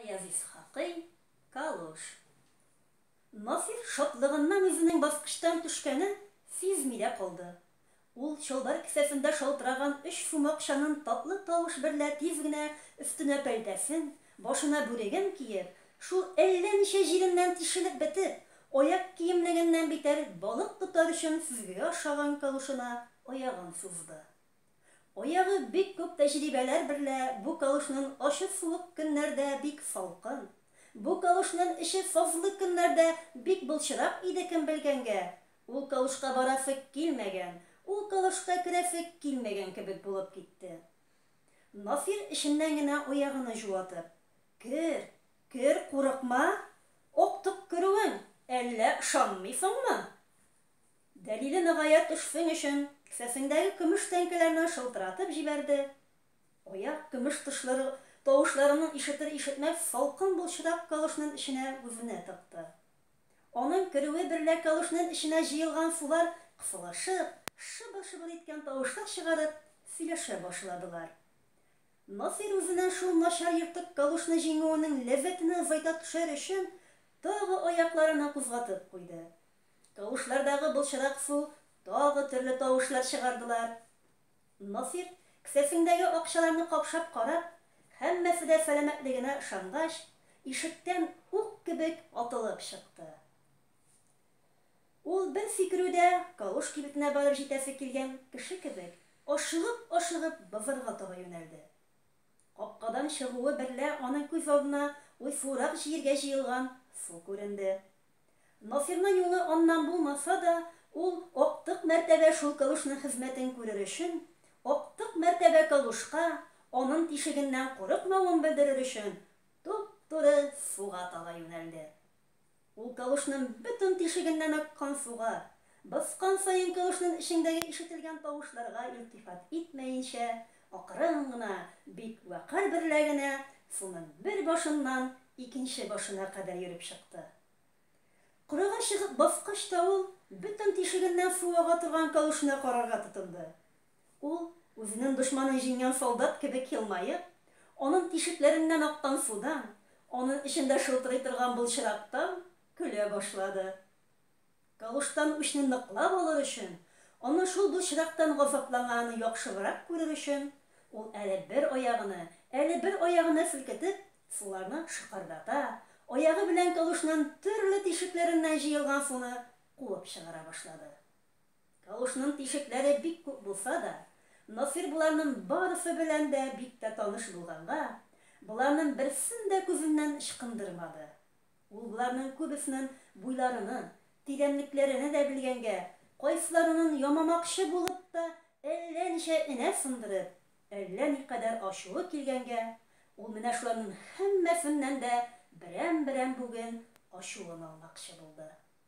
Гаяз Исхакый, Калуш. Насыйр шатлыгыннан үзенең баскычтан төшкәнен сизми дә калды. Ул чалбар кесәсендә шалтыраган өч сум акчанын татлы тавыш берлә тиз генә өстенә пәлтәсен, башына бүреген киеп, шул әллә ничә җиреннән тишелеп бетеп, аяк киемлегеннән битәр балык тотар өчен сөзгегә охшаган калушына аягын сузды. Аягы бик күп тәҗрибәләр берлә бу калушнын ачы суык көннәрдә бик салкын, бу калушнын эче сазлы көннәрдә бик былчырак иде кем белгәнгә, ул калушка барасы килмәгән, ул калушка керәсе килмәгән кебек булып китте. Насир эченнән генә аягыны җуатып. Кер, кер, курыкма, актык керүең, әллә ышанмыйсыңмы? Дәлиле ныгая төшсең өчен, кесәсеңдәге көмеш тәңкәләрне шылтыратып җибәрде, аяк көмеш тышлыры тавышларынын ишетер-ишетмәс салкын былчырак калушнын эченә үзенә тыкты. Анын керүе берлә калушнын эченә җыелган сулар кысылышып, шыбыр-шыбыр иткән тавышлар чыгарып, сөйләшә башладылар. Насыйр үзенен шул начар ертык калушны җиңүенең ләззәтенә зайта төшәр өчен, тагы аякларыны кузгатып куйды. Тавышлардагы былчырак су тагы төрле тавышлар чыгардылар. Насир, кесәсеңдәге акчаларны капшап карап, һәммәсе дә сәламәтлегенә ышангач, ишектән ук кебек атылып чыкты. Ул бер сикерүдә Калуш кибетенә барып җитәсе килгән кеше кебек, ашыгып-ашыгып базарга таба юнәлде. Капкадан чыгуы берлә аның күз алдына уйсуырак җиергә җыелган су күренде. Насирның юлы аннан булмаса да, ул актык мәртәбә шул калушның хезмәтен күрер өчен, актык мәртәбә калушка анын тишегеннән курыкмавын белдерер өчен, туп-туры суга таба юнәлде. Ул калушның бөтен тишегеннән аккан суга, баскан саен калушның эчеңдәге ишетелгән тавышларга илтифат итмәенчә, Акрын гына, бик вәкарь берлә генә суның бер башыннан икенче башына кадәр йөреп чыкты. Кырыйга чыгып баскач та ул бөтен тишегеннән су ага торган кәвешенә карарга тотынды. Ул, үзенең дошманын җиңгән солдат кебек елмаеп, анын тишекләреннән аккан судан, анын эчендә шылтырый торган былчырактан көлә башлады. Тавыштан үчне ныклап алыр өчен, аны шул былчырактан газапланганын яхшыбрак күрер өчен, ул әле бер аягыны, әле бер аягыны селкетеп, суларны шыкырдата, аягы белән калушнын төрле тишекләреннән җыелган суны куып чыгара башлады. Калушнын тишекләре бик күп булса да, Насыйр боларнын барысы белән дә бик тә таныш булганга, боларнын берсен дә күзеннән ычкындырмады. Ул боларның күбеснен буйларыны, тигәнлекләрене дә белгәнгә, кайсыларынын ямамакчы булып та әллә ничә энә сындырып, әллә никадәр ачуы килгәнгә, ул менә шуларнын һәммәсеннән дә берәм-берәм бүген ачуын алмакчы булды.